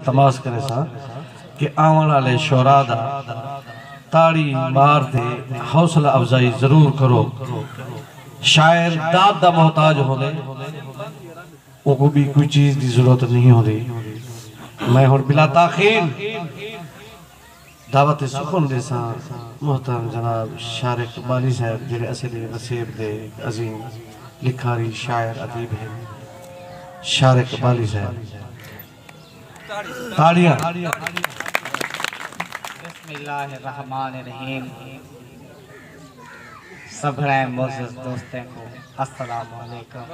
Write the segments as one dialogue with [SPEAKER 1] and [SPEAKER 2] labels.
[SPEAKER 1] تماس کریساں کہ آون آلے شعراء دا تاڑی مار تے حوصلہ افزائی ضرور کرو۔ شاعر داد دا محتاج ہوندے اونکوں بی کوئی چیز دی ضرورت نہیں ہوندی۔ میں ہن بلا تاخیر۔ دعوت سخن ݙیساں محترم جناب شارق اقبالی صاحب جیڑھے اسیں دی وسیب دے ہک عظیم لکھاری شاعر ادیب ہن شارق اقبالی صاحب تاڑیاں بسم اللہ
[SPEAKER 2] الرحمن الرحیم سبھڑے معزز دوستیں کو السلام علیکم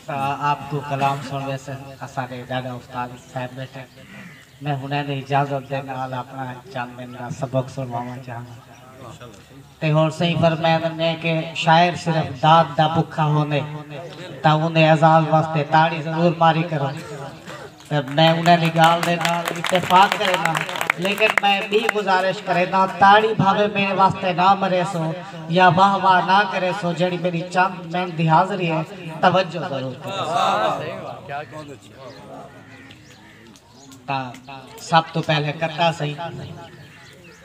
[SPEAKER 2] تاں آپ توں کلام سن ویسن اساڈے ڈاڈا استاد صاحب بیٹھے میں ہنیں دی اجازت دے نال اپنا چند دن دا سبق سنواواں چاہندا تے ہن سئیں فرمیندن نے کہ شاعر صرف داد دا بکھا ہوندے تاں اوندے عزاز واسطے تاڑی ضرور ماری کرو۔ میں انہاں دی گالھ دے نال اتفاق کرینداں لیکن میں ٻی گزارش کرینداں تاڑی بھاوے میڈے واسطے نہ مریسو یا واہ واہ نہ کریسو جیڑی میڈی چند منٹ دی حاضری ہے توجہ ضرور کریسو۔ سب توں پہلے کتا سئیں۔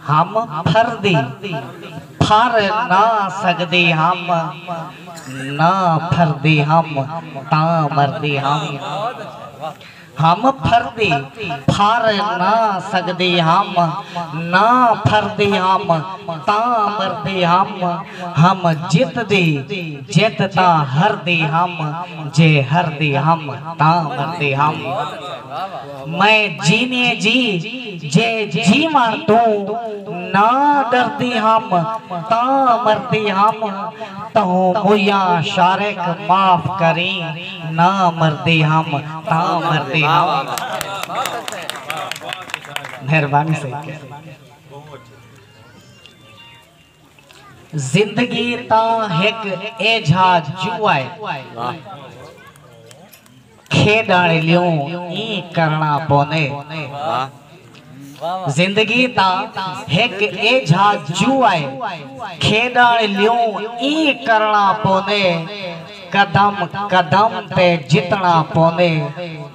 [SPEAKER 2] ہم پھر دی پھر نہ سگدی ہم نہ پھر دی ہم تاں مردی ہم ہم پھر دی پھر نہ سگدی ہم نہ پھر دی ہم تاں مردی ہم ہم جت دی جت تاں ہر دی ہم جے ہر دی ہم تاں مردی ہم۔ میں جیویں جی جے جیوݨ توں نہ ݙردی ہم تاں مردی ہم تہوں مویاں شارق معاف کریں نہ مردی ہم تاں مردی ہم مہربانی سئیں کہہ ݙیو۔ زندگی تاں ہک ایجھا جوا ہے۔ کھیݙݨ لیوں ایں کرݨا پوندے۔ زندگی تاں ہک ایجھا جوا ہے۔ کھیݙݨ لیوں ایں کرݨا پوندے۔ قدم قدم تے جتݨا پوندے۔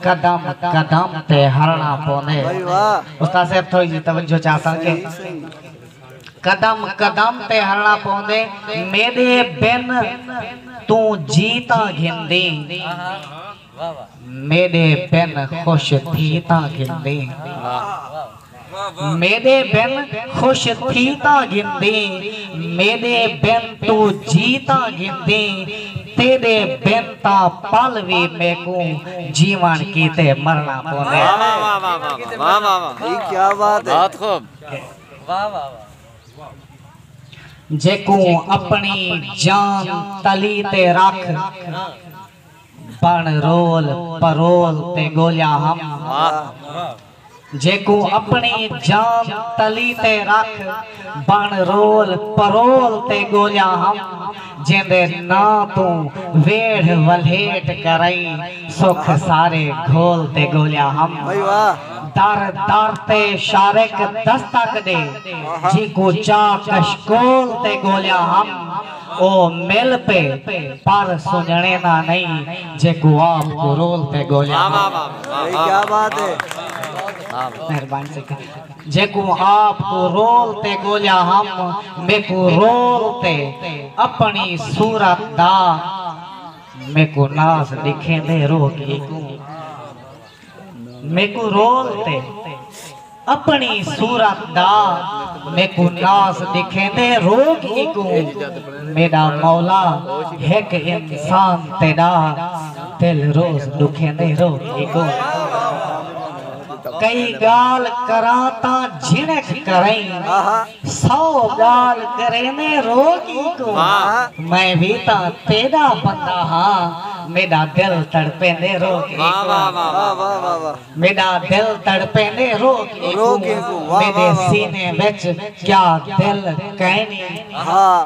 [SPEAKER 2] قدم قدم تے ہرݨا پوندے۔ استاد صاحب تھوڑی جی توجہ چاہساں کہ۔ قدم قدم تے ہلݨا پوندے میݙے بن توں جیتاں گھندیں میݙے بن خوش تھی تاں گھندیں میݙے بن خوش تھی تاں گھندیں میݙے بن توں جیتاں گھندیں تیݙے بن تاں پل وی میکوں جیوݨ کیتے مرݨا پوندے۔ جیکوں اپݨی جان تلی تے رکھ بݨ رول پرول تے ڳولیا ہم جیکوں اپݨی جان تلی تے رکھ بݨ رول پرول تے ڳولیا ہم۔ جیندے ناں توں ویڑھ ولھیٹ کرئیں سکھ سارے گھول تے گھولیا ہم در در تے شارق دستک ݙے جیکوں چا کشکول تے گھولیا ہم او مل پے پر سنڄݨے ناں نئیں جیکوں آپ کرول تے گھولیا ہم۔ جیکوں آپ کوں رول تے ڳولیا ہم میکوں رول تے اپݨی صورت دا میکوں ناز ݙکھیندے روہ کیکوں میکوں رول تے اپݨی صورت دا میکوں ناز ݙکھیندے روہ کیکوں میݙا مولا ہک انسان تیݙا دل روز ݙکھیندے روہ کیکوں۔ کئی ڳالھ کراں تاں جھنک کرئیں سو ڳالھ کریندے رو کی کوں میں وی تاں تیݙا بندہ ہاں میݙا دل تڑپیندے رو کی کوں میݙا دل تڑپیندے رو کی کوں میݙے سینے وچ کیا دل کائنی ہا۔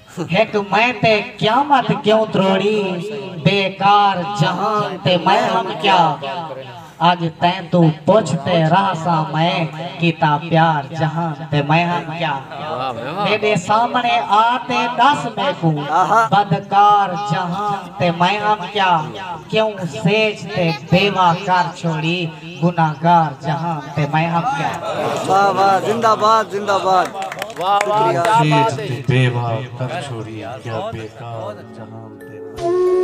[SPEAKER 2] ہک میں تے قیامت کیوں تروڑی بے کار جہان تے میں ہم کیا اج تیں توں پچھ تے راہساں میں کیتا پیار جہان تے میں ہم کیا میڈے سامنے آ تے ڈس میکوں بد کار جہان تے میں ہم کیا کیوں سیج تے بیوہ کر چھوڑی گنہگار جہان تے میں ہاں کیا واہ واہ
[SPEAKER 3] زندہ باد زندہ باد واہ واہ کیا
[SPEAKER 1] بات ہے جی بے واہ کر چھوڑی کیا بیکار جہان تے میں